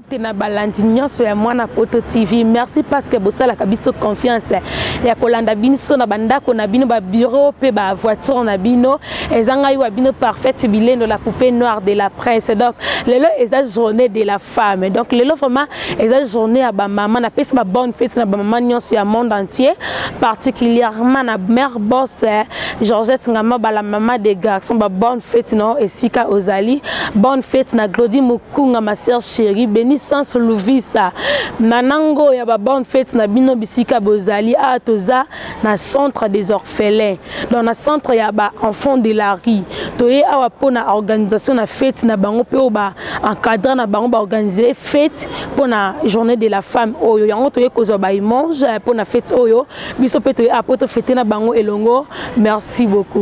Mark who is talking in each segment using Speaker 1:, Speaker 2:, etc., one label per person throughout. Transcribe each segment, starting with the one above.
Speaker 1: Mbote na balandi nyonso ya mwana poto TV. Merci parce que bosalaka biso confiance ya kolanda biso na bandako na bino ba bureau pe ba voiture na bino. Eza ngai wa bino parfaite bilendo la poupée noire de la presse. Donc lelo eza journée de la femme. Donc lelo vraiment eza journée ya ba maman na pesi ba bonne fête na ba maman nyonso ya monde entier particulièrement na mère boss eh, Georgette Ngama bala maman des garçons ba bonne fête no esika ozali. Bonne fête na Glody Muk Kunga ma sœur chérie, béni sans louvisa. Nanango ya ba bonne fête na bino bisika bozali a ah, toza na centre des orphelins. Dans na centre ya ba enfants de la rue. Toye awa pona organisation na fête na bango pe ba encadrer na bango ba organiser fête pona journée de la femme oyo. Yango toye kozwa ba image eh, pona fête oyo. Biso pe toye apoto fête na bango elongo. Merci beaucoup.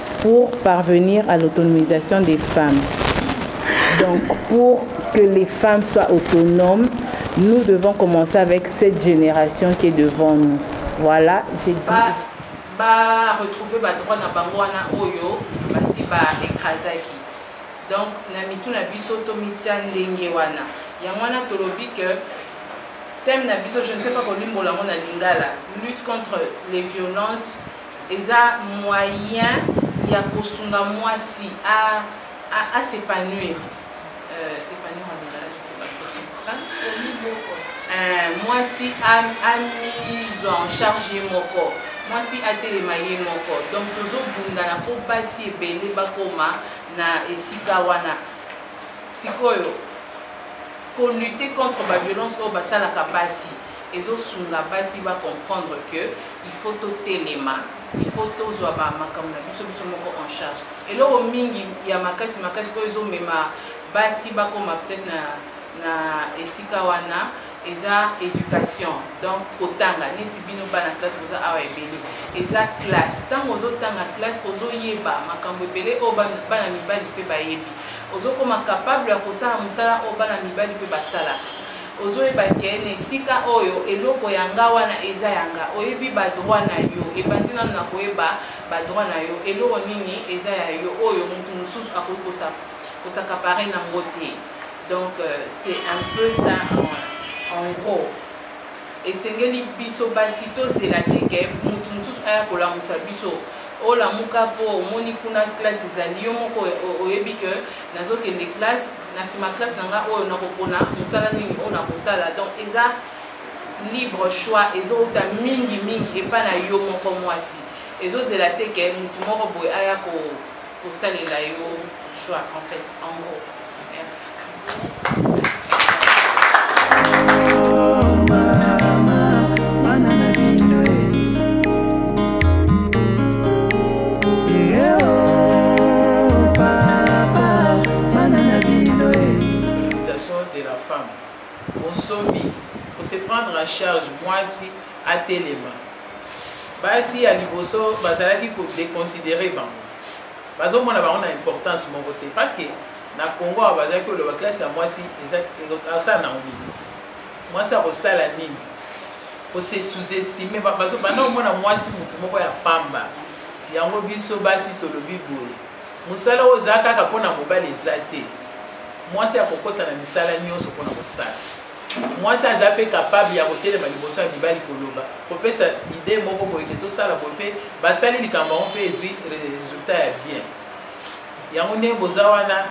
Speaker 2: pour parvenir à l'autonomisation des femmes. Donc pour que les femmes soient autonomes, nous devons commencer avec cette génération qui est devant nous. Voilà, j'ai dit. Bah, bah,
Speaker 3: retrouver bah, droit na bango wana oyo basi ba ekrazaki. Donc na mitu na biso to mitia ndenge wana. Yango wana tolobi que thème na biso je ne sais pas kolimbola ngo na lingala lutte contre les violences eza moyen ya kosunga mwasi a, a, a s'épanouir euh, s'épanouir en lingala je sais pas euh, mwasi amise en charge ye moko mwasi atelema ye moko donc tozobundana mpo basi ebele bakoma na esika wana sikoyo kolute contre baviolence oyo basalaka basi ezo sunga basi ba comprendre que il faut to telema il faut to zwa ba makambo na biso biso moko en charge eloko mingi ya makasi makasi oyo ezo mema basi ba koma peut-être na na esika wana eza éducation donc kotanga neti bino bana classe boza awa ebele eza classe ntango ozotanga classe ozoyeba makambo ebele oyo bana mibali mpe bayebi ozokoma capable ya kosala mosala oyo bana mibali mpe basalaka ozoyeba ke na esika oyo eloko ya nga wana eza ya nga oyebi badroit na yo ebandi nano na koyeba badroit na yo eloko nini eza ya yo oyo motu mosusu akoki kosakapare na ngo te donc euh, c'est un peu ça en, en gros esengeli biso basi tozela keke motu mosusu aya kolamusa biso olamuka mpo omoni kuna classe ezali yo moko oyebi ke nazokende classe na sima classe na nga oyo nakopona mosala nini oyo nakosala donc eza libre choix ezowuta mingi mingi epai na yo moko mwasi ezozela te ke motu moko boye aya kosalela yo choix en fait en gros
Speaker 4: merci bana na bino e utilisation de la femme bonsomi ko se prendre en charge mwasi atelema basi ya liboso bazalaki ko déconsidérer bango bazomona bango na importance moko te parce que na congo awa bazalaki koloba classe ya mwasi asala nango nini mwasi akosala nini kose sous-estime banda komona mwasi motu moko ya pamba yango biso basi tolobi boye Mosala oyo eza kaka mpo na mobali eza te. Mwasi akokota na misala nyonso mpo na kosala. Mwasi aza mpe kapable ya kotelema liboso ya mibali koloba, kopesa ide moko boye ke tosala boye mpe basali likambo yango mpe ezwi resultat ya bien. Yango nde boza wana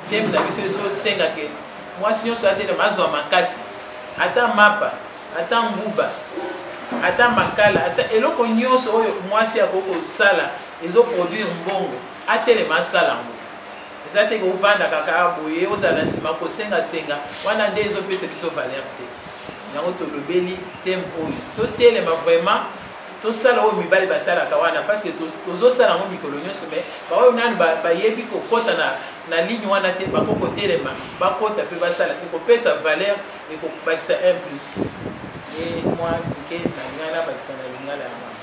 Speaker 4: ndembe na biso ezosenga ke mwasi nyonso atelema azwa makasi, ata mapa, ata nguba, ata makala, ata eloko nyonso oyo mwasi akoki kosala ezo produire mbongo atelema asala yango eza te kovanda kaka boye ozala na nsima kosengasenga wana nde ezopesa biso valeur te yango tolobeli teme oyo totelema vraiment tosala oyo mibali basalaka wana parce que tozosala yango mikolo nyonso mai baoyo nanu bayebi kokɔta na, na ligne wana te bako kotelema bakɔta mpe basala ekopesa valeur ekobakisa 1 plus ye mwa moke na ngai nabakisa na lingala ya mama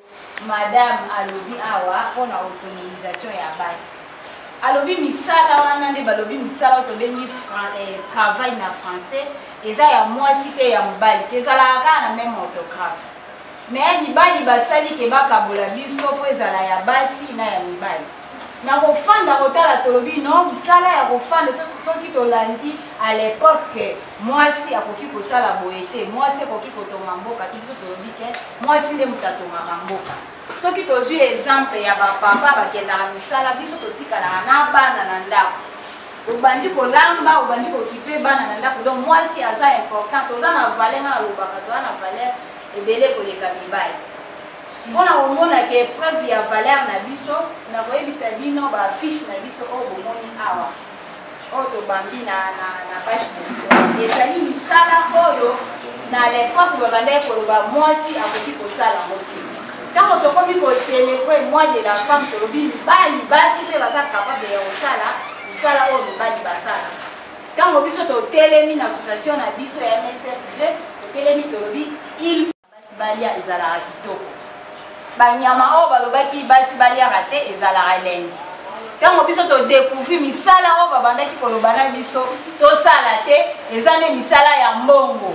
Speaker 5: madame alobi awa mpo na autonomisation ya basi alobi misala wana nde balobi misala oyo tobengi eh, travail na français eza ya mwasi te ya mobali te ezalaka kaka na meme orthographe me ya mibali basali ke bakabola biso mpo ezala ya basi na ya mibali na kofanda kotala tolobi no mosala ya kofanda soki tolandi à l'époque ke mwasi akoki kosala boye te mwasi ekoki kotonga mboka te biso tolobi ke mwasi nde moto atongaka mboka soki tozwi exemple ya bapapa bakendaka misala biso totikalaka na bana na ndako obandi kolamba obandi kokipe bana na ndako donc mwasi aza important toza na valeur nga nalobaka toza na valeur ebele koleka mibali mpo na komona ke preuve ya valeur na biso na koyebisa bino bafiche na biso oyo bomoni awa oyo tobambi na, na, na page na biso ezali misala oyo na lepoke babandaki koloba mwasi akoki kosala yango te ntango tokomi kocelebre moi de la femme tolobi mibali basi mpe baza kapable ya kosala misala oyo mibali basala ntango biso totelemi na association na biso ya msf 2 totelemi tolobi il Basi balia ezalaka kitoko. Banyama oyo balobaki basi baliaka te ezalaka elengi. Ntango biso todekouvri misala oyo babandaki koloba na biso tosala te, eza nde misala ya mbongo.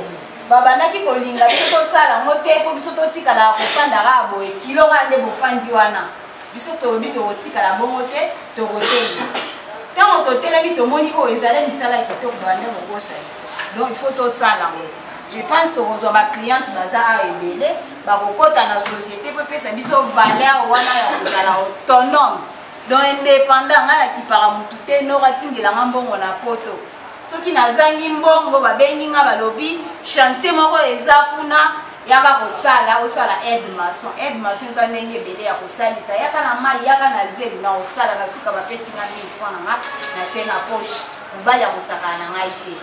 Speaker 5: Babandaki kolinga biso tosala yango te mpo biso totikala kofanda kaka boye kilo kaka nde bofandi wana. Biso tolobi tokotikala bongo te, tokotelema. Ntango totelemi tomoni oyo ezali misala kitoko bande kokosa biso. Donc il faut tosala yango. je pense tokozwa bacliente baza awa ebele bakokɔta na société mpo epesa biso valeur wana ya kozala autonome donc indépendant ngai nakipaka motu te noko atindela nga mbongo na poto soki nazangi mbongo babengi nga balobi chantier moko eza kuna yaka kosala osala aide maçon aide maçon eza ndenge ebele ya kosalisa yaka na mai yaka na zelu na kosala na suka bapesi nga 1000 franc na nga na te na poche mobali ya kosakana na ngai te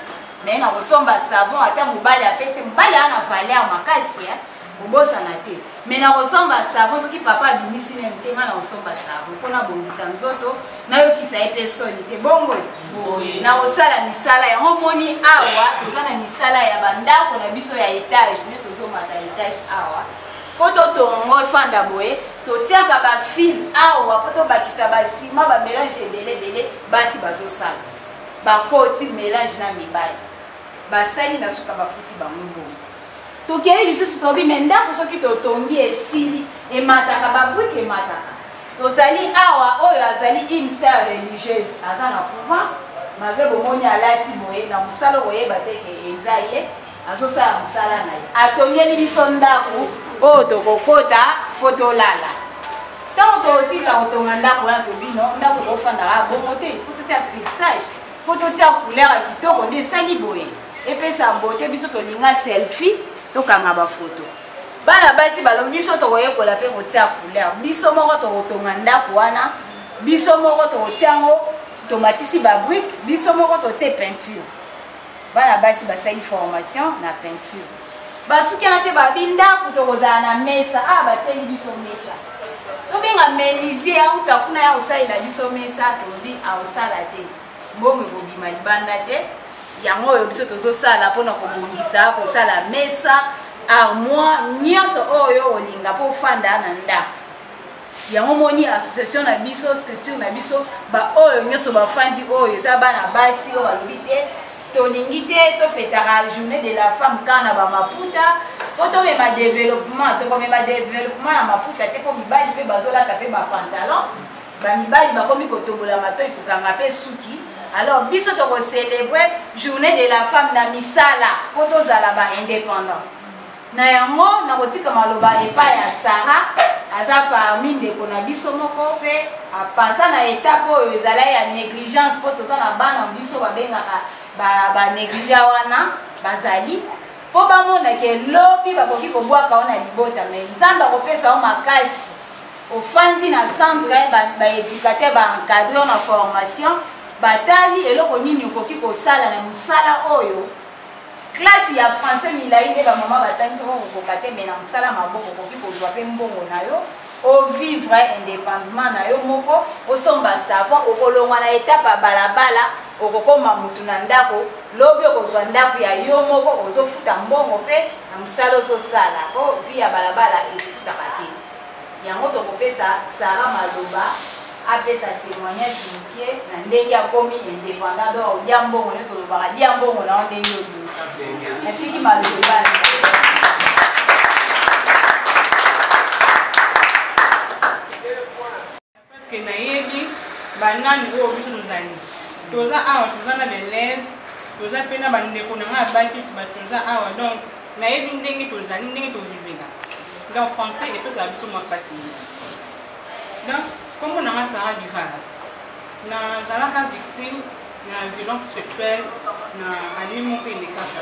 Speaker 5: naye na kosomba savon ata mobali apese mobali aa na valeur makasi eh? kobosana te me na kosomba savon soki papa abimisi nani te ngai na kosomba savon mpo nabongisa nzoto nayokisa ye mpe soni te bongo na kosala misala yango omoni awa toza na misala ya bandako na biso ya etage nde tozomata etage awa mpo totonga yango efanda boye totiaka bafile awa mpo tobakisa basima bamelange ebele ebele basi bazosala bakoti melange na mibali basali na suka bafuti bango bongo tokei lisusu tobi me ndako soki totongi esili emataka babrike emataka tozali awa oyo azali une sœur religieuse aza na couvent malgre bomoni alati boye na mosala okoyeba te ke eza ye azosala mosala na ye atongeli biso ndako oyo tokokota mpo tolala ntango tokosisa kotonga ndako wana tobino ndako kofandaka bongo te fo totya crixage fo totya couleur ya kitoko nde esali boye epesa mbote biso tolinga selfie tokanga bafoto bana basi balobi biso tokoyekola mpe kotya couleur biso moko tokotonga ndako wana biso moko tokotya yango tomatisi babrike biso moko totye peinture bana basi basali formation na peinture basukana te babi ndako tokozala na mesa awa ah, batieli biso mesa tobenga menisie auta kuna ya kosalela biso mesa tolobi akosala te mbongo ekobima libanda te yango oyo biso tozosala mpona kobongisa kosala mesa armoire nyonso oyo olinga mpo ofanda na ndako yango omoni association na biso structure na biso baoyo nyonso bafandi oyo eza bana basi oyo balobi te tolingi te tofetaka journée de la femme kaka na bamaputa mpo tomema développement tokomema développement ya maputa te mpo mibali mpe bazolata mpe bapantalon bamibali bakomi kotobola matoi kokanga mpe suki alors biso tokocelebre journée de la femme na misala mpo tozala baindépendant Na yango nakotika maloba epai ya Sara, aza parmi ndeko na biso moko mpe apasa na etape oyo ezala ya negligence mpo toza na bana biso babengaka banegligea ba wana bazali mpo bamona ke lobi bakoki kobwaka wana libota me nzambe akopesa yo makasi ofandi na centre baéducateur ba baencadre na formation batali eloko nini okoki kosala na mosala oyo classe ya français milai nde bamama batangi soko kokoka te me na mosala maboko okoki kozwa mpe mbongo na yo ovivre indépendement na yo moko osomba savon okolongwa na etape ya balabala okokoma motu na ndako lobi okozwa ndako ya yo moko ozofuta mbongo mpe na mosala ozosala po vi ya balabala efutaka te Yango tokopesa Sarah maloba apesa temoignage mukie na ndenge akomi independant do aulia mbongo nde tolobaka lia mbongo na yo ndenge oyo natiki maloba
Speaker 6: Peuple na yebi ba nani oyo biso tozali toza awa toza na belève toza mpe na bandeko na ngai abaki bato toza awa donc nayebi ndenge tozali ndenge tovivela donc français epesaka biso mwa mpasi donc nkombo na ngai sara divala nazalaka victime na violence sexuelle na année moko elekaka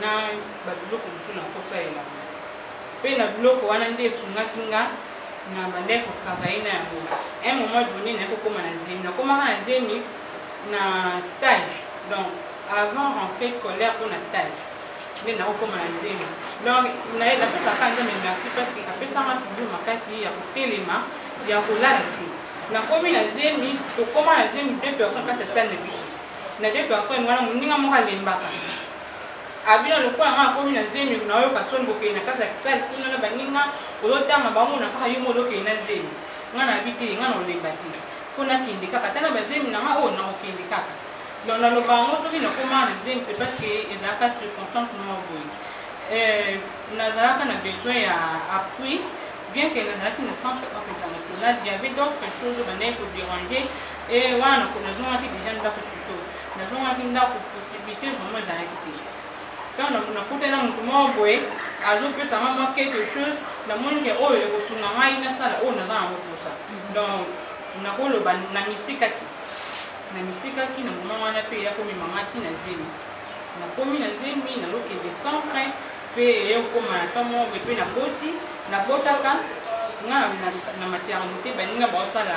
Speaker 6: na babiloko mosusu na mposa ya elanga mpe na biloko wana nde esungaki nga na bandai kotravaille na yango un moment donné naye kokóma na zemi nakomaka na zemi na stage donc avant rentrée scolaire mpo na stage nde nakokóma na zemi donc naye napesaka nzambe merci parce que apesanga toujours makasi ya kotelema ya kolala te nakomi na zemi tokóma na zemi deux personnes kati ya sale na biso na de personne wana moninga moko alembaka abina lokola nga akomi na zemi nayoka soni bokei na kati ya kisali kuna na baninga ozotanga bamona kaka yo molokei na zemi nga nayebi te nga na olemba te mpo nakende kaka ata na bazemi na nga oyo nakokende kaka donc naloba yango soki nakoma na zemi te parce que ezalaka circonstance moko boye euh, nazalaka na besoin ya appui bien que nazalaki na centre african national il y avait d'autres choses bandaki koderange Eh, wana nakona nazongaki deja ndako puto nazongaki ndako possibilité vraiment ezalaki te ntango nakutana moto moko boye azopesa nga mwa quelque chose namoni ke oyo ekosunga ngai nasala oyo naza yango mposa donc nakoloba na mistikaki na mistikaki na moma wana mpe eyakomema nga ti na zemi nakomi na zemi nazokende centre mpe eyokoma na ntango moko boye mpe naboti nabotaka nga na maternité baninga baosala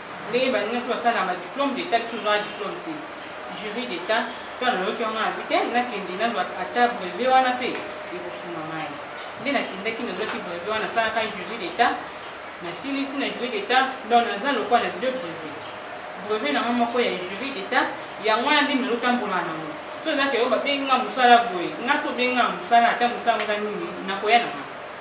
Speaker 6: ndenge balingaki basala na badiplome d'etat biso ozwaka diplome te jury d'etat to nayoki yango na bite nakende nazwa ata brevet wana mpe ekosunga mai nde nakendaki nazwaki brevet wana asalaka jury d'etat nasilisi na jury d'etat donc naza lokwa na deux brevet brevet nango moko ya jury d'etat yango wana nde nazotambola nango so ezaka yo babengi nga mosala boye nga tobengi nga mosala ata mosala oza nini nakoya na nga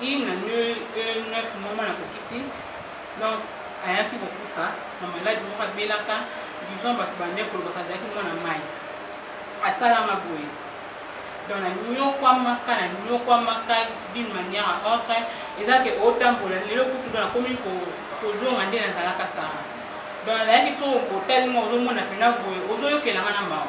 Speaker 6: Une année, euh, neuf mois, mwana kokiti. Donc, ayaki kokufa na maladi moko abelaka disons bato bande kolobaka azalaki mwana mai asalama boye donc nanyokwamaka nanyokwamaka d'une manière à autre eza ke otambola lelo kutu do nakomi kozonga nde nazalaka sara donc nazalaki to otali mwa ozomona mpena boye ozoyokelanga na mawa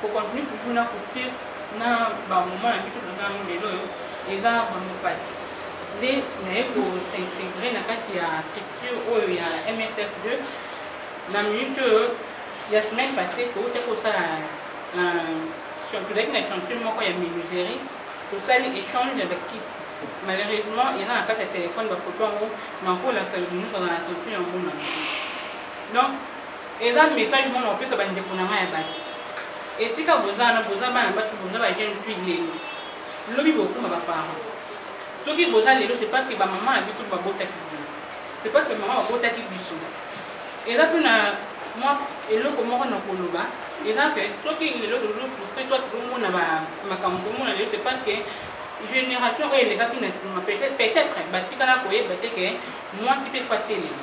Speaker 6: Ko continue toujours na coupure na ba moment na biso toza yango lelo oyo eza vraiment pasi nde naye ko s'integrer na kati ya structure oyo ya MSF2 na minute oyo ya semaine passée touta kosala tozalaki na chantier moko ya menuiserie tosali échange ya bakiti malheureusement eza na kati ya telefone bafoto yango nakolaka limusa na chantier yango na donc eza message mwana opesa bandeko na ngai ya bato esika boza wana boza bana batu boza ba jeune fille lelo lobi bokoma baparent soki boza lelo c'est parce que bamama na biso babotaki bino c'est parce que mama babotaki biso eza mpe na mwa eloko moko na koloba eza mpe soki lelo tozofrustre toi tozomona makambo tomona lelo c'est parce que génération oyo elekaki na nsima peut-être batikala koyeba te ke mwasi mpe fatelema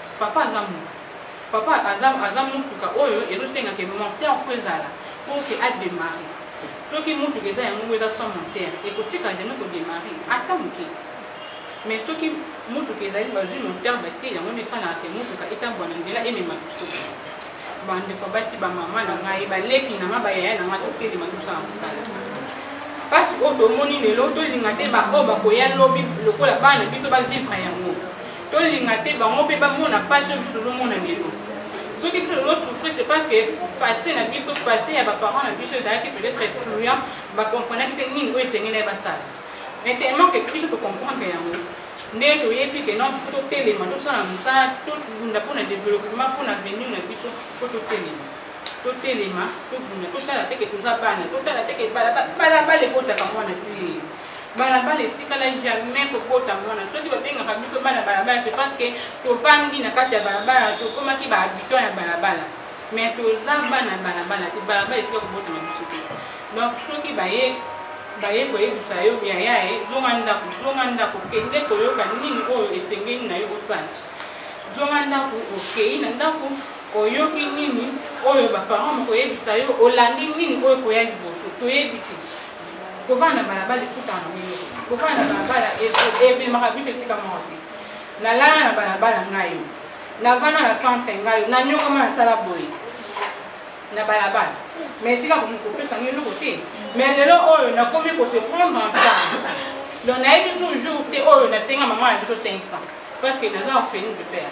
Speaker 6: Papa aza mutu papa aza aza mutuka oyo ezosenga ke moteur mpo ezala mpo ke ademare soki mutuka eza yango ngo eza sans moteur ekotika jamais kodemare ata moke mais soki mutuka ezali bazwi moteur batie yango nde esalaka ke mutuka etambwa na nzela emema biso bandeko basi bamama na ngai baleki na ngai bayaya na ngai totelema tosala mosala mpasi oyo tomoni lelo tolinga te baoyo bakoya lobi lokola bana biso bavivre yango tolinga te bango mpe bamona pasi oyo biso tozomona lelo soki biso tozosouffrir c'est parce que passé na biso passé ya baparent na biso ezalaki peut-être excluant bacomprenaki te nini oyo esengeli ya basala mais tellement que biso tocomprendre yango nde toyebi ke non biso totelema tosala mosala tobunda mpo na développement mpo na venir na biso mpo totelema totelema tobunda totala teke toza bana totala teke balabala ekotaka mwana te balabala etikala jamais kokota mwana soki babengaka biso bana balabala te parce que tofandi na kati ya balabala tokomaki bahabitant ya balabala mais toza bana balabala te balabala etika kobotama biso te donc soki baye baye koyebisa yo yaya ye zonga ndako zonga ndako kende koyoka nini oyo esengeli na yo osala zonga ndako okei na ndako oyoki nini oyo baparent mokoyebisa yo olandi nini oyo koya liboso toyebi te kovanda na balabala ekutana na mino kovanda na balabala ememaka biso esika moko te nalala na balabala ngayo navanda na centre ngayo nanyokama nasala boye na balabala me etika kopesa ngai eloko te me lelo oyo nakomi kose prendre en charge donc nayebi toujours te oyo nasenga mama na biso 500 parce que naza orpheline de père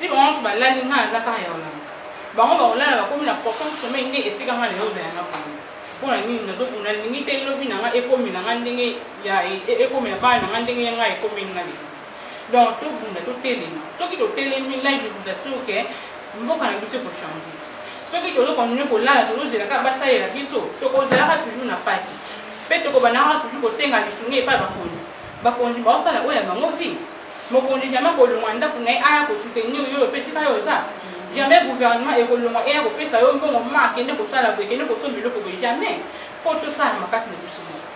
Speaker 6: ti bango moto balali ngai naza kaka ya olanga bango bakolala bakomi na portant somei nde etika ngai lelo na yanga bango mpo na nini nazobunda nalingi te lobi na ngai ekomela ngai ndenge ya e, e, ekomela bana na ngai ndenge ya ngai ekomeli ngai lelo donc tobunda totelema soki totelemi live ekuta suke mboka na biso ekochange soki tozokontinue kolala tozozela kaka basalela biso tokozalaka toujours na pati mpe tokobandaka toujours kotenga lisungi epai bakonzi bakonzi baosala oyo ya bango vi mokonzi jamais akolongwa na ndako na ye aya kosoutenir yo ope tika yo oza jamais gouvernement ekolongwa eya kopesa yo mbongo ma akende kosala boye kende kosomba eloko boye jamais po tosala makasi na biso moko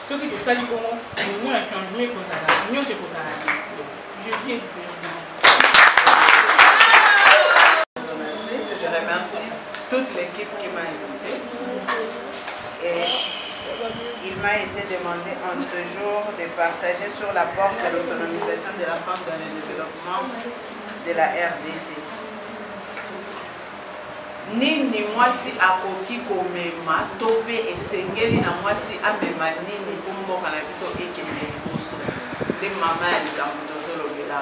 Speaker 6: soki tosali bongo omona changement ekozala nyonso ekozala Je
Speaker 7: remercie toute l'équipe qui m'a invité. Et Il m'a été demandé en ce jour de partager sur la porte de l'autonomisation de la femme dans le développement de la RDC. nini mwasi akoki komema to mpe esengeli na mwasi amema nini mpo mboka na biso ekende liboso nde mama ya likambo tozolobela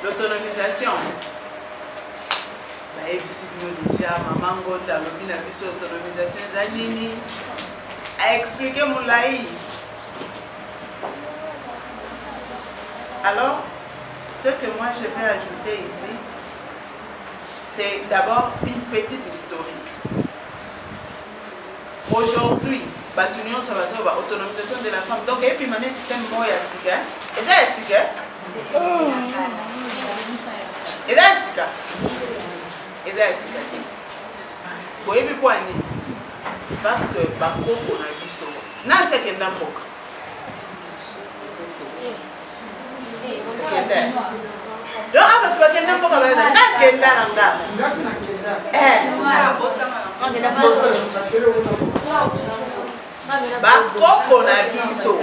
Speaker 7: l'autonomisation nayebisi bino deja mama ngonda alobi na biso autonomisation eza nini aexplike molai alors ce que moi je vais ajouter ici c'est d'abord une petite historique aujourd'hui bato nyonso bazoba ba autonomisation de la femme donc ebima neti teme moko ya sika eza ya sika eza ya sika eza ya sika te boyebi kwa nini parce que bakoko na biso nasi akenda mboka yo aba tubakenda mboka baza nakenda na nga bakoko na biso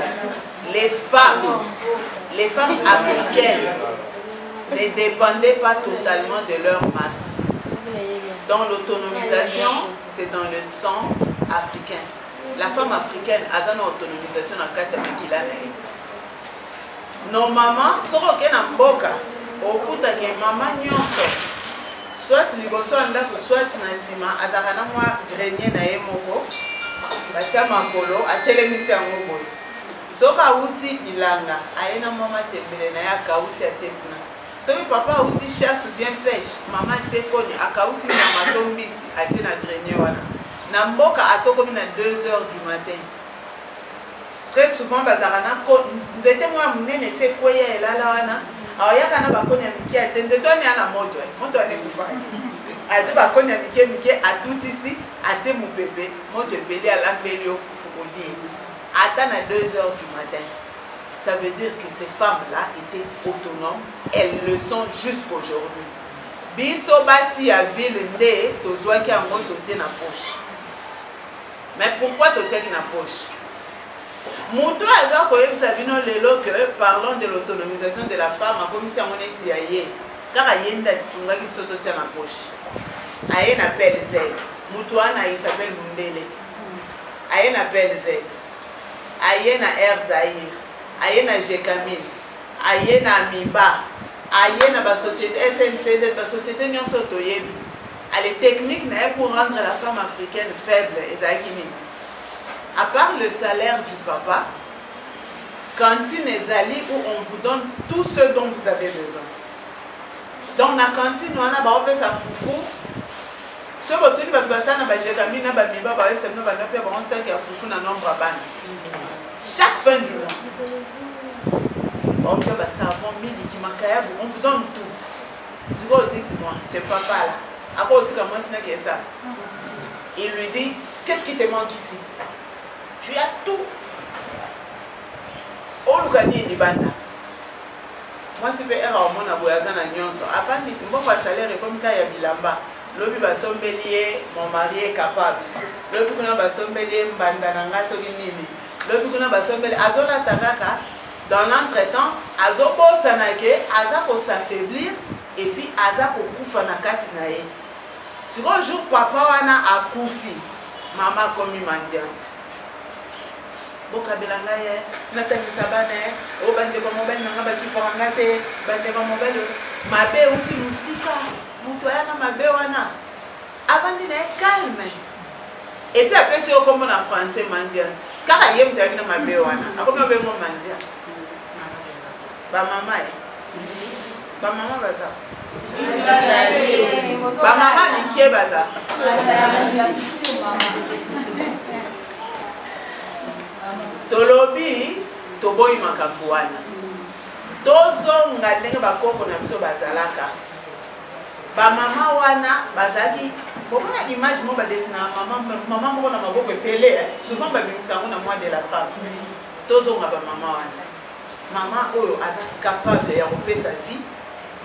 Speaker 7: les femmes les femmes africaines ne dépendaient pas totalement de leur mari dans l'autonomisation c'est dans le sang africain la femme africaine aza na autonomisation na kati ya makila na ye normalement soki oke na mboka okutake mama nyonso soit liboso ya ndako soit na nsima azalaka na mwa grenier na ye moko batya makolo atelemisi yango boye soki awuti bilanga aye na mwa matembele na ye akausi atie kuna soki papa awuti chasse ou bien pêche mama atie koni akausi nyama to mbisi atie na grenier wana na mboka atokomi na 2 heures du matin très souvent bazalaka na ko nzete moko ya monene esi ekweya elala wana aoyaka na bakoni ya mike atie nzete wana ya na moto eh. moto wana ekufaki azwi bakoni ya mike mike atutisi atie mopepe moto epeli alambeli yo fufu kolie ata na 2 heures du matin ça veut dire que ces femmes là étaient autonomes elles le sont jusqu'aujourd'hui biso basi ya ville nde tozwaki yango totie na poche mais pourquoi totiaki na poche moto oyo aza koyebisa bino lelo que parlons de l'autonomisation de la femme akomisi yango neti ya ye kaka ye nde asungaki biso totia na poche aye na plz moto wana isabel mundele aye na plz aye na air zaire aye na jecamine aye na amiba aye na basociété sncz basociété nyonso toyebi Allez, technique na ye pour rendre la femme africaine faible ezalaki nini à part le salaire du papa cantine ezali où on vous donne tout ce dont vous avez besoin donc na cantine wana baopesa fufu soki botuni bato basala na bajekami na bamiba bayebisa bino banda mpe bango saki ya fufu na nombre ya bana chaque fin du mois baopesa basavon miliki makayabu on vous donne tout Sikoyo dites moi, ce papa là, ako tika mwasi na kesa. Il lui dit, qu'est-ce qui te manque ici? Tu as tout. Oluka nini libanda? Mwasi pe era omona boye aza na nyonso. Afandi mbongo ya salaire ekomi ka ya bilamba. Lobi basombeli ye mon mari est capable. Lobi kuna basombeli ye mbanda na nga soki nini. lobi kuna basombeli azolata kaka dans l'entretemps azobosana ke aza kosafaiblir epuis aza kokufa na kati na ye sikoyo jour papa wana akufi mama akomi mandiante bokabela ngai ye natangisa bana ye o oh, bandeko mobali na ngai bakipaka ngai te bandeko mobali mabe euti mosika moto aya na mabe wana avandi na ye calme epuis apesi yo kombo na français mandiante kaka ye moto ayaki na mabe wana akomi obengo mandiante bamama ye bamama baza bamama mike baza tolobi toboyi makambo wana tozonga ndenge bakoko na biso bazalaka ba mama wana bazalaki bomona image moko badesina mama moko na maboko ebele eh. souvent babimisa yango na mois de la femme tozonga bamama wana mama oyo aza capable ya kopesa vie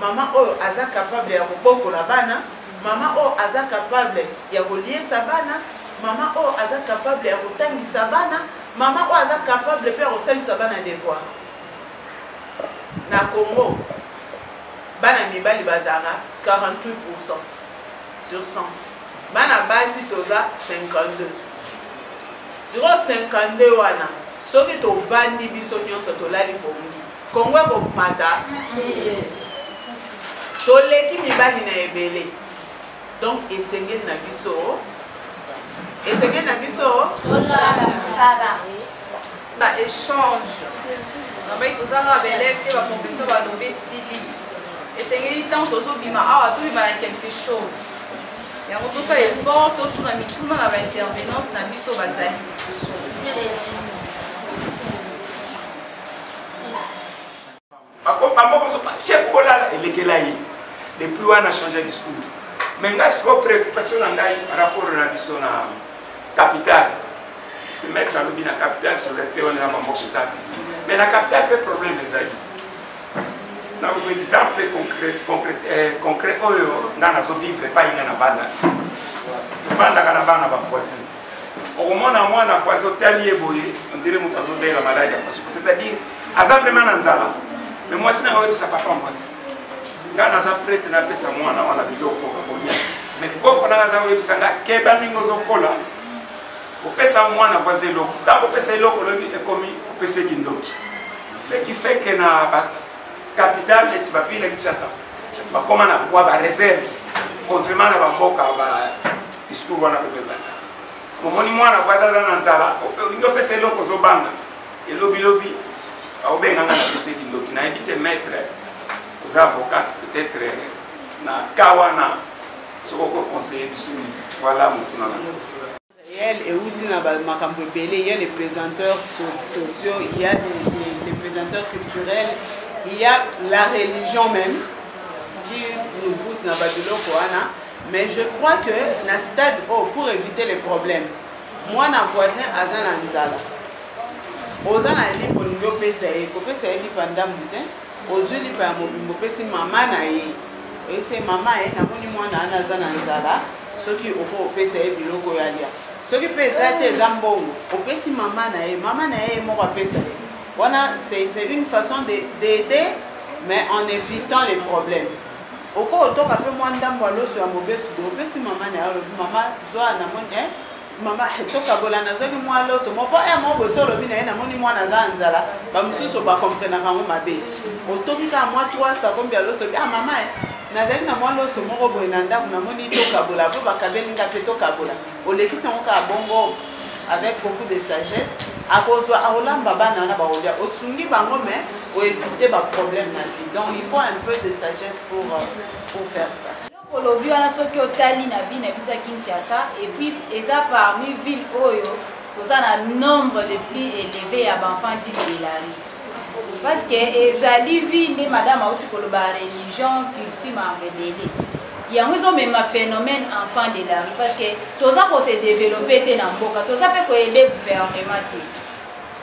Speaker 7: mama oyo aza capable ya kobokola bana mama oyo aza capable ya koliesa bana mama oyo aza capable ya kotangisa bana mama oyo aza capable mpe ya kosalisa bana devoir na congo bana mibali bazalaka 48 pourcent sur 100 bana basi toza 52 siko 52 wana soki tovandi biso nyonso tolali bongi kongo ekomata toleki mibali na ebele donc esengeli na biso esengeli na
Speaker 8: biso kosala ba échange nabaki kozanga baelève te baprofesseur balobi esili esengeli ntango tozobima awa tobima na quelque chose yango tosala effort totuna mituna na baintervenance na biso bazali liboso
Speaker 9: bako bamoko mosusu ba chef bolala elekela ye depuis wana change discours mais ngai sikoyo préoccupation na ngai par rapport na biso na capital parce que maître alobi na capital solidarité wana na bamboka eza te mais na capital mpe problème ezali nakozwa exemple eh, concret oyo ngai nazovivre epai ngai na bana tofandaka na bana bavoisin okomona mwana fo azotali ye boye ondire moto azobela maladi ya pasuku c'est-à-dire aza vraimen na nzala me mwasi nanga oyebisa papa mwasi ngai naza prete napesa mwana wana biloko akolia me koko nanga aza koyebisa ngai keba ndenge ozokola kopesa mwana voisi eloko ntango opesa eloko olobi ekomi opesa ekindoki ce qui fait que na capitale neti bavile ya kinshasa bakoma na bwa bareserve contrairement na bamboka badiscours wana mpe ezalaka momoni mwana po azaza na nzala olingi opesa eloko ozobanga elobilobi aobenganga na pese kindoki nayebi te maître oza avocate peut-être na ka wana soki okoconseille biso voilà motuna na Yel
Speaker 7: euti na makambo ebele il y a les présenteurs sociaux il y a les, les, les présenteurs culturels il y a la religion même qui nous pousse na babiloko wana mais je crois que na stade oh, pour éviter les problèmes mwana voisin aza na nzala oza na lipa olingi opesa ye kopesa ye lipa ndambu te ozwi lipa ya mobimbo opesi mama na ye oyebisa ye mama ye namoni mwana wana aza na nzala soki oko opesa ye biloko ya lia soki mpe eza te eza mbongo opesi mama na ye mama na ye moko apesa ye wana c'est une façon d'aider mais en évitant les problèmes oko otoka mpe mwa ndambo ya loso ya mobesu bo opesi mama na ye olobi mama zwa na moni eh, mama tokabola nazwaki mwa loso moko ya eh, moko boso olobi na ye namoni mwana aza na nzala bamosusu bakomprenaka yango mabe otoki kaka mwa 3 sakombi ya loso ah mama eh, nazalaki na mwa loso moko boye na ndako namoni tokabola mpo bakabeli nga mpe tokabola olekisi yango kaka bongo avec beaucoup de sagesse akozwa akolamba bana wana bakolia osungi bango mais oevite baproblème na vie donc il faut un peu de sagesse pour, euh, pour faire ça olobi wana soki
Speaker 5: otali na ville na biso ya kinshasa epuis eza parmi ville oyo toza na nombre le plus élevé ya baenfant dit de la rue parce que ezali ville nde madame auti koloba religion culture marebele yango ezomema phénomène enfant de la rue parce que toza kose développe te na mboka toza mpe koyede gouvernement te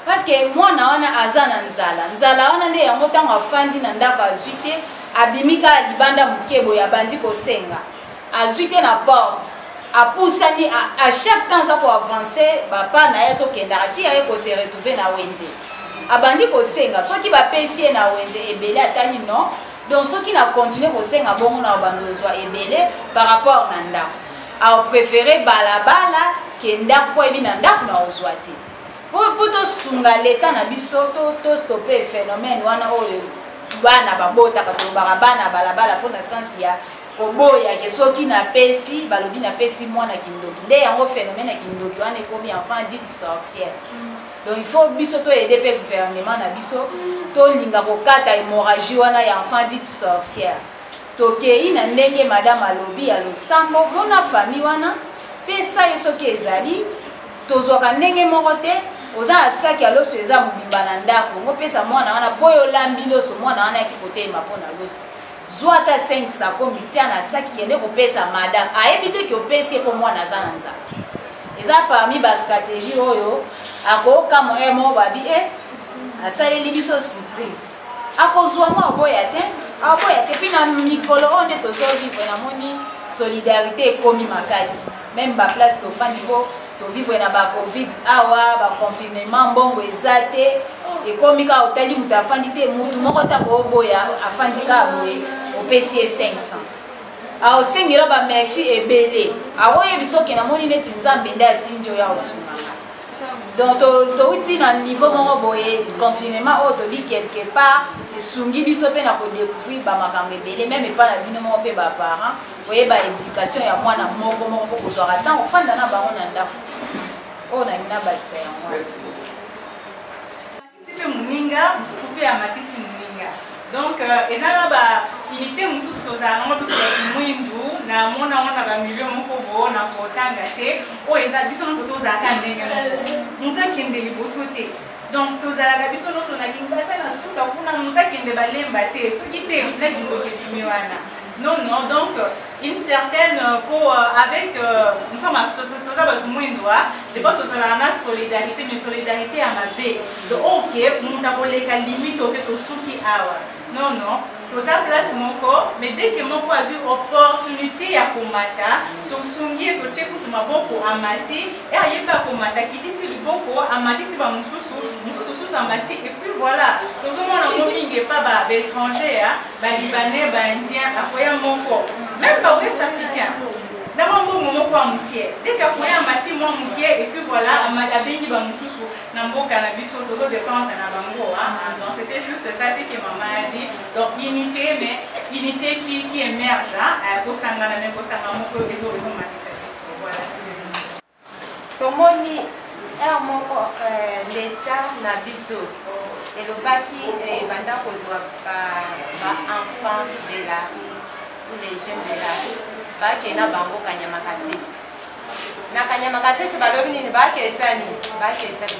Speaker 5: parce que mwana wana aza na nzala nzala wana nde yango ntango afandi na ndako azwi te abimi kaka libanda moke boye abandi kosenga azwi te na porte apusani à chaque temps aza koavance bapa na ye azokendaka ti aye kose retrouve na wenze abandi kosenga soki bapesi ye na wenze ebele atali non donc soki na continue kosenga bongo na obandi ozwa ebele par rapport na ndako aopréféré balabala ke ndako mpo ayebi na ndako na ozwa te mpo tosunga leta na biso tostope phénomène wana oyo bana babotaka tolobaka bana balabala mpo na sense ya koboyake soki napesi balobi napesi mwana kindoki nde yango phénomène ya kindoki wana ekomi enfant dit sorcière mm. donc il faut biso toyede mpe gouvernement na biso tolinga kokata hémorragie wana ya enfant dit sorcière tokei na ndenge madame alobi ya losambo mona famille wana pesa ye soki ezali tozwaka ndenge moko te oza na saki ya loso eza mobimba na ndako ngopesa mwana wana mpo yo olambi loso mwana wana yaki kotelema mpo na loso zwa ata 5 sako mitia na saki kende kopesa madame ayebi te ke opesi ye mpo mwana aza na nzala eza parmi bastratégie oyo akokamwa ye moko babi e eh, asaleli biso surprise akozwa ngo aboya te aboya te mpe na mikolo oyo nde tozovivre namoni solidarité ekomi makasi meme baplace tofandi mpo tovivre na bacovid awa baconfinement mbongo eza te ekomi kaka otali moto afandi te motu moko ntango oboya afandi kaka boye opesi ye 500 aosengela bamerci ebele aoyebi soki namoni neti nzambe nde atindi oyo aosunga donc touti na niveau moko boye confinement oyo tobi quelque part esungi biso mpe na kodecouvrir bamakambo ebele meme epai na bino moko mpe baparent koyeba éducation ya mwana moko moko mpo kozwaka ntango ofanda na bango na ndako oyo nalingi nabakisa yango
Speaker 6: Amatisi mpe moninga mosusu mpe amatisi moninga. Donc euh, eza na ba unité mosusu tozala nango biso bato mwindu na mona yango na bamilio moko boo na kotanga te oyo eza biso nyonso tozalaka ndenge moko moto akende liboso te donc tozalaka biso nyonso na kingbasa na suka kuna moto akende balemba te soki te na kindoki ebimi wana non non donc une certaine euh, pour euh, avec euh, nous sommes toza bato mwindo depo tozalaka na solidarité mais solidarité ya mabe oke moto akoleka limite oke tosuki awa non non toza place moko mais dès que moko azwi opportunité ya komata tosungi ye totie kutu maboko amati e aye mpe akomata akitisi liboko amatisi bamosusu mosusu susu amati epuis voilà tozomona ngo mingi epa baétranger ba libanais ba indien akoya moko meme ba west africain na mwa mbongo moko ya mokie deke akoya amati mwa mokie epuis voilà abengi bamosusu na mboka na biso tozo dépendre na bango donc c'était juste ça ce que mama a dit donc unité mais unité qui, qui émerge kosangana mais kosanga moko ezomatisa biso voilà tomoni
Speaker 10: heure moko euh, leta na biso elobaki ebanda euh, kozwa baenfant de la rue ou les jeunes de la rue bake na bango kanyama kasese na kanyama kasese balobi nini bakesani bakesani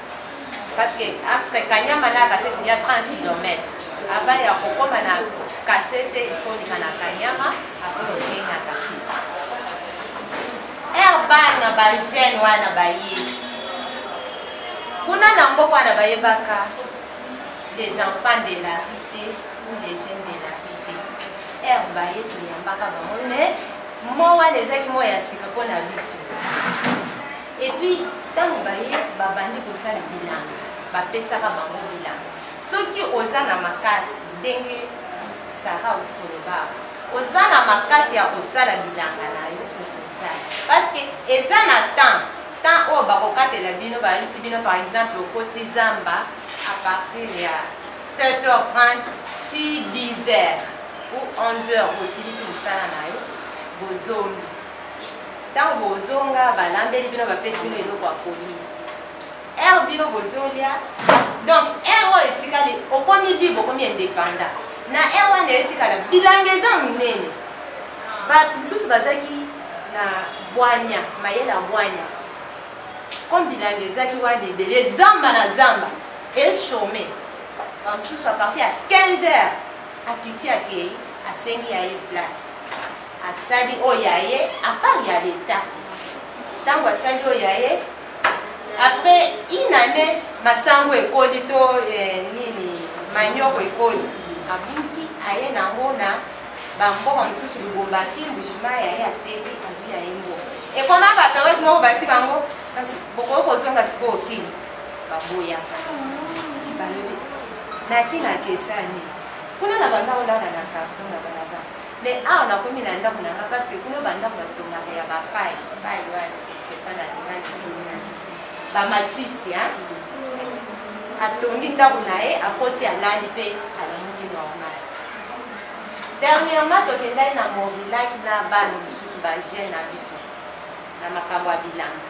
Speaker 10: parce que après kanyama na kasese ya 30 km avant ya kokoma na kasese ikolima na kanyama après okei na kasese herbal na bajeune wana baye kuna na mboka wana bayebaka les enfants de la rue te ou les jeunes de la rue te heure baye toyambaka bango ne mowa na ezaki moya ya sika mpo na biso Et puis tango baye babandi kosala bilanga bapesaka bango bilanga soki oza na makasi ndenge sara oti koloba oza na makasi ya kosala bilanga na yo okosala parce que eza na temps temps oyo bakokatela bino bayebisi bino par exemple okoti zamba à partir ya 7h30 ti 10h ou 11h osilisi mosala na yo bozongi ntango bozonga balambeli bino bapesi bino eloko ya koli ere bino bozolia donc ere oyo etikali okomi libre okomi indépendant na ere wana etikala bilanga eza monene bato mosusu bazalaki na bwanya mayele ya bwanya comme bilanga ezalaki wana ebele zamba na zamba echome bamosusu apartir ya 15 heures akiti akei asengi ya ye place asali oyo ya ye apart ya leta ntango asali oyo ya ye après une année masango ekoli to eh, nini manioko ekoli abuki aye nango na bamboma mosusu lubumbashi mbujima ya ye ateki azwi ya ye mbongo ekoma baperiode moko basi bango kasi bokoki kozonga sikoyo kini baboyaka balobi naki nakesani kuna na banda olala na karton na balaba Mais awa na komi na ndako na nga parce que kuna ba ndako ba tongaka ya ba paille, paille wana je sais pas na ndima ni ba matiti hein. Atongi ndako na ye, akoti alali pe alamuki normal. Dernièrement tokendaki na Morilaki na bana mosusu ba jeune na biso na makambo ya bilanga.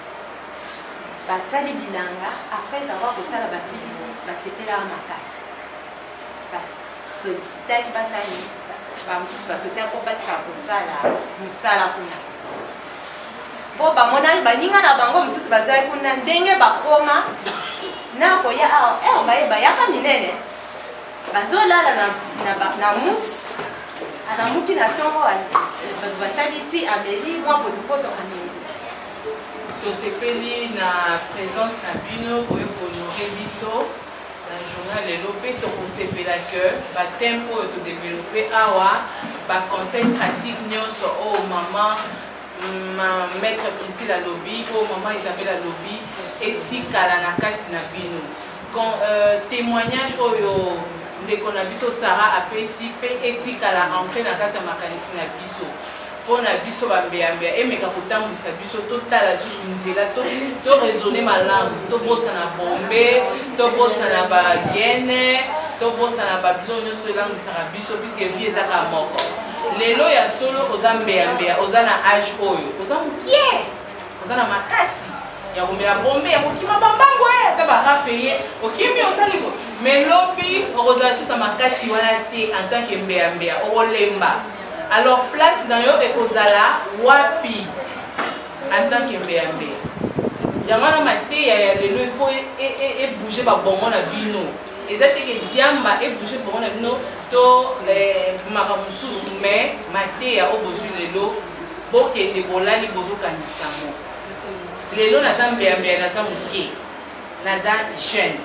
Speaker 10: Basali bilanga après avoir kosala basilisi basepelaka makasi. basolisitaki basali bamosusu basolisitaki mpo batika kosala mosala kuna mpo bamonaki baninga na bango mosusu bazalaki kuna ndenge bakoma na koya awa ah, eh, baye bayaka minene bazolala na musi alamuki na ntongo bato basali ti ameli mwa botopoto ameli
Speaker 3: tosepeli na présence na bino boye kohonore biso na journal lelo mpe tokosepela que batempe oyo todeveloppe awa baconseil pratique nyonso oyo oh, mama ma maître priscile alobi oyo oh, mama isabelle alobi etikala na kati na bino euh, témoignage oyo oh, ndeko na biso sara apesi mpe etikala ancre na kati ya makanisi na biso mpo na biso bambeyambeya emeka kotambwisa biso totala lisusu nzela toraisonne malamu tobosana bombe tobosana bagene tobosana babiloko nyonso tolangwisaka biso puiske vie ezaka moko lelo ya solo oza mbeyambeya oza na age oyo oza mokie oza na makasi ya komela bombe ya kokima bambango ye eh, ata barafe ye okimi osali ko melobi okozala susu na makasi wana te en tant que mbeyambeya okolemba alors place na yo ekozala wapi en tant que mbeya mbeya yango wana mateya ya lelo ifo ebouge e, e, babongo na bino eza te ke diamba ebouge bongo na bino to eh, maka mosusu mais mateya oyo bozwi lelo bokende bolali bozokangisa mo lelo naza mbeyambeya naza moke naza jeune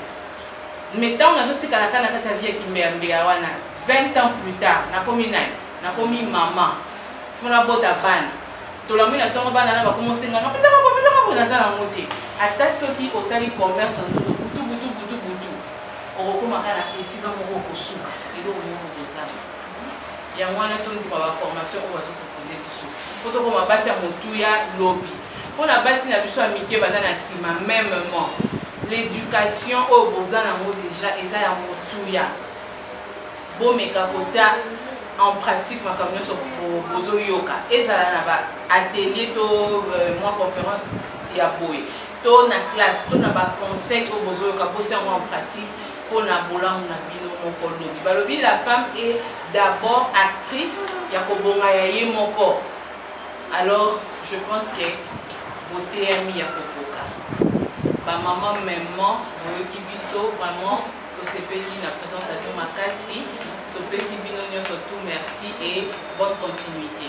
Speaker 3: mais ntango nazotikala kaka na kati ya vie ya kimbeyambeya wana 20 ans plus tard nakomi nani nakomi mama fo nabota bana tolangwi na ntongo bana na bakomi osenganga pesaka bo pesaka bo naza nango te ata soki osali commerce na nzoto butu butu butu butu okokoma kaka na esika moko okosuka eloko moko kozala yango wana tondima baformation oyo bazopropose biso po tokoma basi ya motuya lobi mpo na basi na biso ya mike baza na nsima memement l'éducation oyo oh, boza nango déjà eza ya motuya bomeka kotia en pratique makambo nyonso bozoyoka ezala na ba atelier to euh, mwa conférence ya boye to na classe to na baconseil oyo bozoyoka botia yango en pratique mpo na bolamu na bino moko lobi balobi la femme est d'abord actrice ya kobonga ya ye moko alors je pense que boteyami ya kokoka bamama memement boyoki biso vraiment tosepeli na présence ya bino makasi topesi bino nyonso tout merci et bonne continuité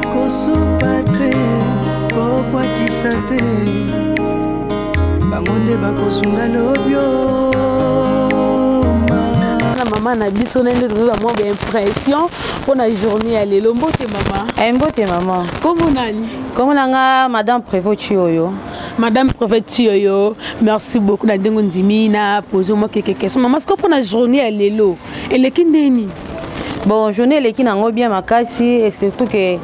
Speaker 1: kosupa te kokwakisa te bango nde bakosunga lobio na mama na biso na nde tozoza mwa baimpression mpo na journée ya lelo mbote mama eh, mbote mama
Speaker 2: kombo nani
Speaker 1: kombo na nga
Speaker 2: madame prévot chioyo madame prophète
Speaker 1: tiyoyo merci beaucoup na ndenge ondimi na pose mwa keke question mama siko mpo na journée ya lelo eleki ndenge nini bon
Speaker 2: journée eleki na yango bien makasi et surtout que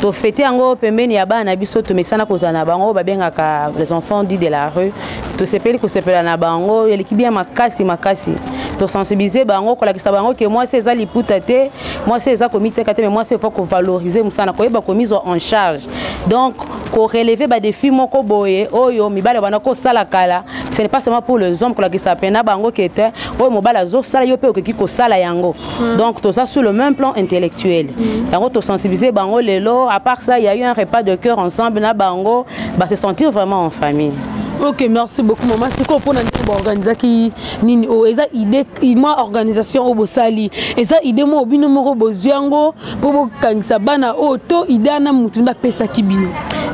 Speaker 2: tofete yango pembeni ya bana na biso tomesana kozala na bango babengaka les enfants dit de la rue tosepeli kosepela na bango eleki bien makasi makasi tosensibilize bango kolakisa bango ke mwasi eza liputa te mwasi eza komiteka te me mwasi epa kovalorize mosala koyeba komizwa en charge donc ko relever ba défis moko boye oyo mibale bana ko sala kala ce n'est pas seulement pour les hommes kolakisa pena bango ke te oyo mobali azosala yo mpe okoki kosala yango hmm. donc toza sur le même plan intellectuel hmm. yango tosensibiliser bango lelo à part ça il y a eu un repas de cœur ensemble na bango ba se sentir vraiment en famille ok merci
Speaker 1: beaucoup mama sikoyo mpona nini baorganisaki nini oyo oh, eza idée mwa organisation oyo bosali eza idée moko bino moko bozwi yango mpo bokangisa bana oyo to ide wana motu nde apesaki bino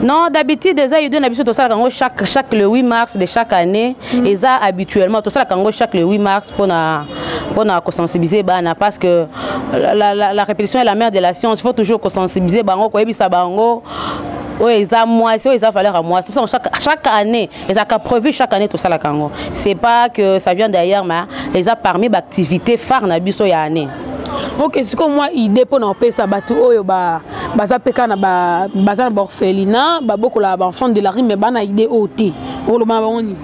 Speaker 1: non d'habitude
Speaker 2: eza idée na biso tosalaka yango chaque, chaque le 8 mars de chaque année mm. eza habituellement tosalaka yango chaque le 8 mars mpona mpona kosensibiliser bana parce que la, la, la, la répétition est la mère de la science il faut toujours kosensibiliser bango koyebisa bango oyo eza mwasi oyo eza valeur ya mwasi tosalaka chaque, chaque année ezalaka prévu chaque année tosalaka yango c'est pas que ça vient d'ailleurs mais eza parmi baactivité phare na biso ya année ok sikoyo
Speaker 1: mwa idée mpo na kopesa bato oyo baza mpe kaka baza na baorphelina babokolaka baenfant de la rime bana idée oyo te okoloba na bango nini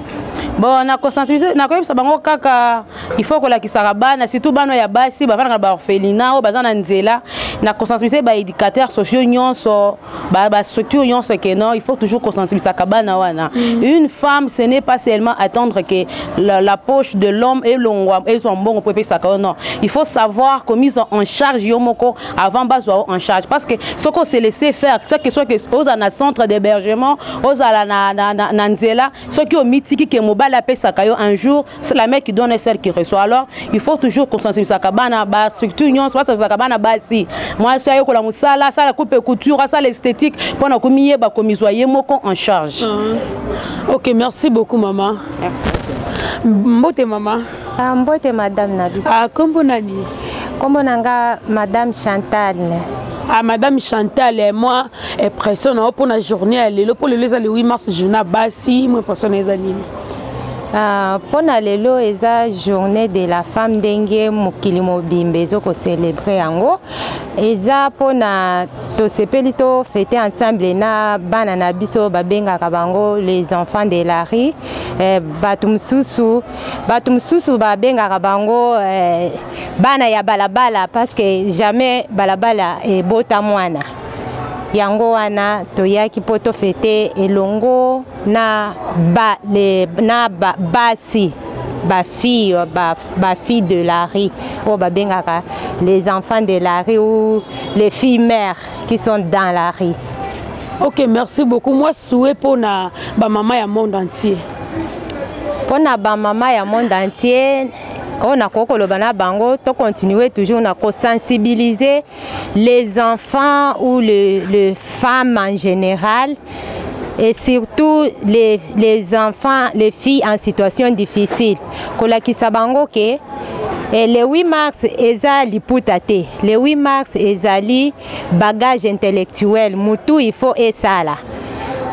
Speaker 1: bon
Speaker 2: nakosensibilize nakoyebisa bango kaka il faut kolakisaka bana surtout bana ya basi bafandaka na baorphelina oyo baza na nzela nakosensibilize baéducateur sociaux nyonso ba, ba structure yonso que non il faut toujours kosensibilisaka bana wana mm. une femme ce n'est pas seulement attendre que la, la poche de l'homme elongwa ezwa mbongo mpo epesaka yo non il faut savoir komise en charge yo moko avant bazwa yo en charge parce que soki ose laisser faire ce que soit que ozala na centre d'hébergement ozala na, na, na, na nzela soki omitiki ke mobali apesaka yo un jour c'est la mère qui donne et celle qui reçoit alors il faut toujours kosensibilisaka bana bastructure nyonso basensibilisaka bana basi mwasi ayekola mosala asala coupe couture asala esthétique mpo na komiyeba komizwa ye moko en charge ah. ok
Speaker 1: merci beaucoup mama mbote mama ah, mbote madame
Speaker 10: na biso ah, kombo nani
Speaker 1: kombo na nga
Speaker 10: madame chantal à ah, madame
Speaker 1: Chantal et moi impression pour la journée à l'élo pour le les 8 mars journée basi moi impression les animaux Ah,
Speaker 10: mpo na lelo eza journée de la femme ndenge mokili mobimba ezokocelebre yango eza mpo na tosepeli to fete ensemble na bana na biso babengaka bango les enfants de la rue eh, bato mosusu bato mosusu babengaka bango eh, bana ya balabala parce que jamais balabala ebota mwana yango wana toyaki mpo tofete elongo na ba, le, na ba, basi bafille bafille ba de la rue oyo babengaka les enfants de la rue ou les filles mères qui sont dans la rue ok
Speaker 1: merci beaucoup moi souhait mpo na bamama ya monde entier
Speaker 10: mpo na bamama ya monde entier oyo nakoki koloba na bango tocontinue toujours na kosensibilize les enfants ou les, les femmes en général et surtout les, les enfants, les filles en situation difficile. kolakisa bango ke eh, le 8 mars eza liputa te le 8 mars ezali bagage intellectuel mutu il faut esala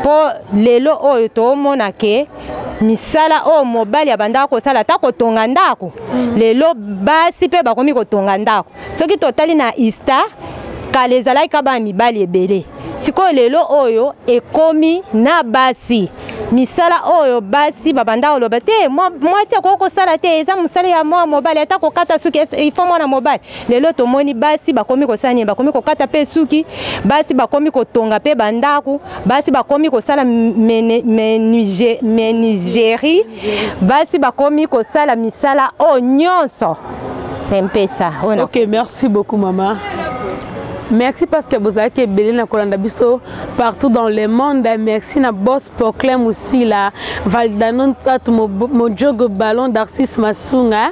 Speaker 10: mpo lelo oyo toomona ke misala oyo mobali abandaka kosala ata kotonga ndako mm. lelo basi mpe bakomi kotonga ndako soki totali na ista kala ezalaki kaka bana mibali ebele sikoyo lelo oyo ekomi na basi misala oyo basi babanda koloba te mwasi akoki kosala te eza mosala ya mwana mobali ata kokata suki ifo mwana mobali lelo tomoni basi bakomi kosala nini bakomi kokata mpe suki basi bakomi kotonga mpe bandako basi bakomi kosala menuiserie basi bakomi kosala misala oyo nyonso sempesa oyo ok merci beaucoup
Speaker 1: mama merci parce que bozalaki ebele na kolanda biso partout dans le monde merci na boss poclin mosila valdano nsatu mojogo ballon d'arcis masunga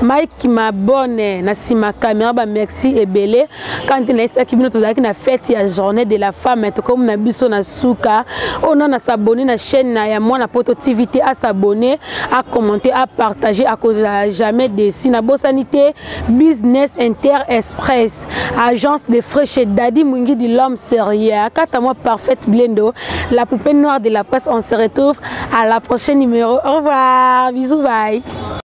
Speaker 1: mike mabone na nsima camera bamerci ebele quand na esaki bino tozalaki na fête ya journée de la femme tokomi na biso na suka oyo oh, na na s'abonner na chaîne na ya mwana poto tv te a s'abonner a commenter a partager akozala jamais déçu na bosani te business inter express agence de frais chez daddy mwingi de l'homme sérieux akata moi parfaite blendo la poupée noire de la presse on se retrouve à la prochaine numéro au revoir bisous bye